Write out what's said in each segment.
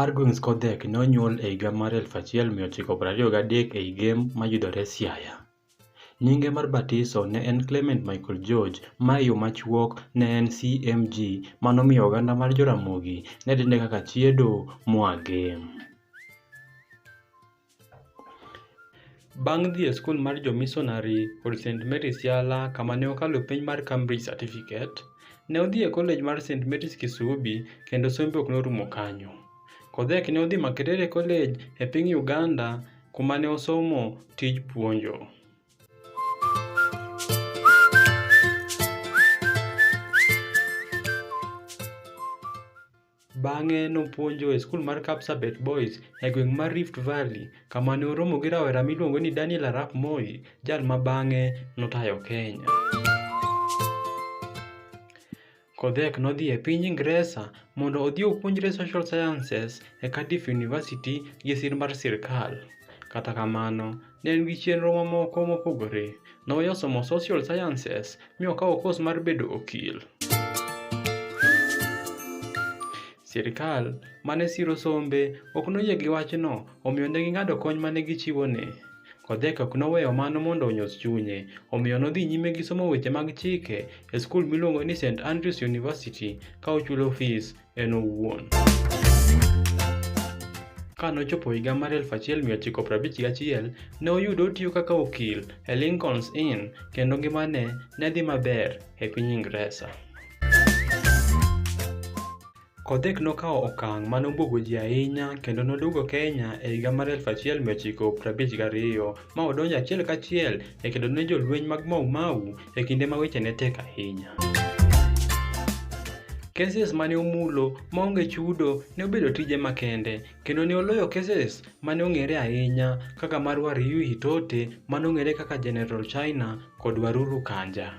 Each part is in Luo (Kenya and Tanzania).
Argwings Kodhek ne onyuol e higa mar 1923 ei Gem mayudore Siaya. Nyinge mar batiso ne en Clement Michael George ma e yo machuok ne en CMG ma nomiyo oganda mar Joramogi ne dende kaka Chiedo moa Gem. Bang' dhi e skul mar jomisonari kod St. Mary's Yala kama ne okalo penj mar Cambridge Certificate, ne odhi e kolej mar St. Mary's Kisubi kendo sombe ok norumo kanyo. Kodhek ne odhi Makerere College e piny Uganda kuma ne osomo tij puonjo. Bang'e nopuonjo e skul mar Kapsabet Boys e gweng' mar Rift Valley kama ne oromo gi rawera miluongo ni Daniel Arap Moi, jal ma bang'e notayo Kenya. Kodhek nodhi e piny Ingresa mondo odhi opuonjre Social Sciences e Cardiff University gi sir mar sirkal. Kata kamano, Ne en gi chenro mamoko mopogore. Ne oweyo somo social sciences mi okawo kos mar bedo okil. Sirkal ma ne siro sombe ok noyie gi wachno, omiyo ne ging'ado kony ma ne gichiwone. Kodheka ok noweyo mano mondo onyos chunye, omiyo nodhi nyime gi somo weche mag chike e skul miluongo ni St. Andrews University ka ochulo fees en owuon. Ka nochopo higa mar 1951, ne oyudo otiyo kaka okil e Lincoln's Inn kendo ngimane ne dhi maber e piny Ingresa. Kodhek nokawo okang' ma nobwogo ji ahinya kendo noduogo Kenya e higa mar 1952 ma odonjo achiel kachiel e kedo ne jolweny mag Mau Mau e kinde ma weche ne tek ahinya. Keses mane omulo maonge chudo ne obedo tije makende kendo ne oloyo keses mane ong'ere ahinya kaka mar Wariyuhi Tote mane ong'ere kaka General China kod Waruru Kanja.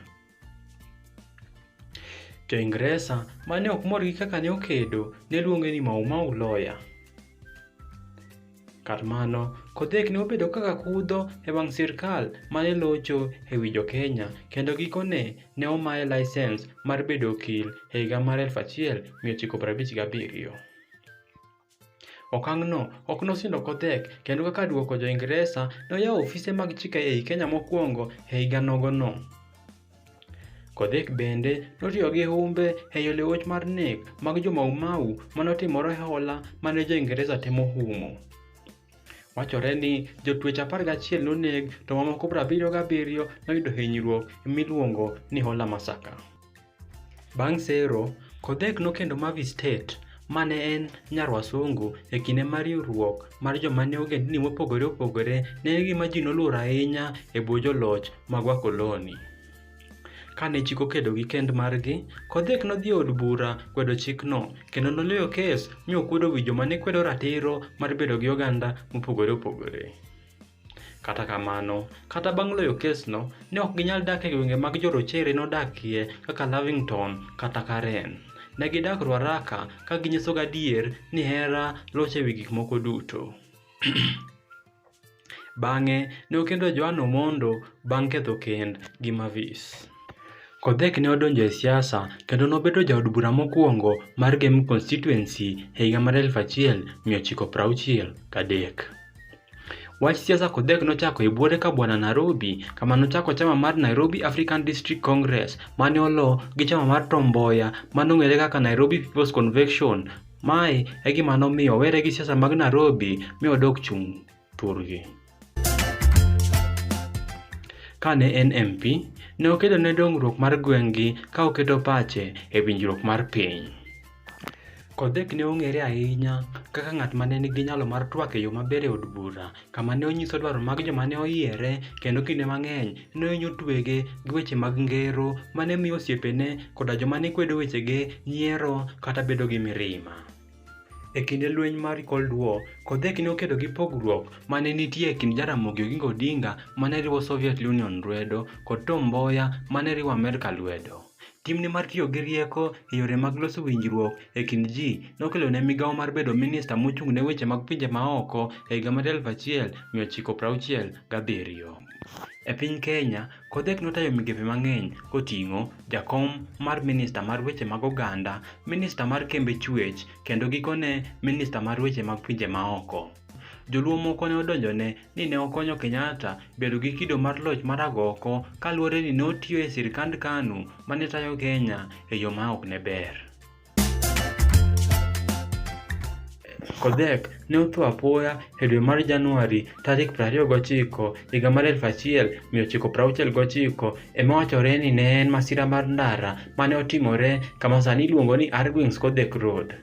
Jo-Ingresa ma ne ok mor gi kaka ne okedo ne luonge ni Mau Mau Lawyer. Kar mano, Kodhek ne obedo kaka kudho e wang' sirkal ma ne locho e wi Jo-Kenya kendo gikone ne omaye laisens mar bedo okil e higa mar 1957. Okang'no ok nosindo kotek kendo kaka duoko jo Ingresa noyawo ofise mag chike ei Kenya mokwongo e higa nogono. Kodhek bende notiyo gi humbe e yo liwuoch mar nek mag jo Mau Mau mane otimore hola mane jo Ingresa temo humo. Wachore ni jotwech 11 noneg to mamoko 77 noyudo hinyruok miluongo ni Hola Massacre. Bang' sero, Kodhek nokendo Mavi State ma ne en nyar wasungu e kinde ma riwruok mar joma ne ogendni mopogore opogore ne en gima ji noluoro ahinya e bwo joloch mag wakoloni. Ka ne chik okedo gi kend margi, Kodhek nodhi e od bura kwedo chikno, kendo noloyo kes mi okwedo wi joma ne kwedo ratiro mar bedo gi oganda mopogore opogore. Kata kamano, kata bang' loyo kesno, ne ok ginyal dak e gwenge mag jorochere nodakie kaka Lavington kata Karen. Ne gidak Ruaraka ka ginyiso gadier ni hera locho e wi gik moko duto. Bang'e, ne okendo Joan Omondo bang' ketho kend gi Mavis. Kodhek ne odonjo e siasa kendo nobedo jaod bura mokwongo mar Gem constituency e higa mar 1963. Wach siasa kodhek nochako e buore ka bwana Nairobi kama nochako chama mar Nairobi African District Congress mane olo gi chama mar Tom Mboya mane ong'ere kaka Nairobi People's Convention. Mae e gima nomiyo owere gi siasa mag Nairobi mi odok chung' turgi. Kane en MP, ne okedo ne dongruok mar gweng'gi ka oketo pache e winjruok mar piny. Kodhek ne ong'ere ahinya kaka ng'at ma ne nigi nyalo mar twak e yo maber e od bura, kama ne onyiso dwaro mag joma ne oyiere, kendo kinde mang'eny ne ohinyo twege gi weche mag ngero ma ne miyo osiepene koda joma ne kwedo wechege nyiero kata bedo gi mirima. E kinde lweny mar Cold War, Kodhek ne okedo gi pogruok ma ne nitie e kind Jaramogi Oginga Odinga ma ne riwo Soviet Union lwedo kod Tom Mboya ma ne riwo Amerka lwedo. Timne mar tiyo gi rieko e yore mag loso winjruok e kind ji nokelo ne migawo mar bedo minista mochung' ne weche mag pinje maoko e higa mar 1967. E piny Kenya, Kodhek notayo migepe mang'eny koting'o jakom mar minista mar weche mag oganda, minista mar kembe chuech, kendo gikone minista mar weche mag pinje maoko. Joluo moko ne odonjone ni ne okonyo Kenyatta bedo gi kido mar loch mar agoko kaluwore ni ne otiyo e sirkand KANU ma ne tayo Kenya e yo ma ok ne ber. Kodhek ne otho apoya e dwe mar Januari tarik 29 higa mar 1969 ema wachore ni ne en masira mar ndara mane otimore kama sani iluongo ni Arguings Kodhek Road.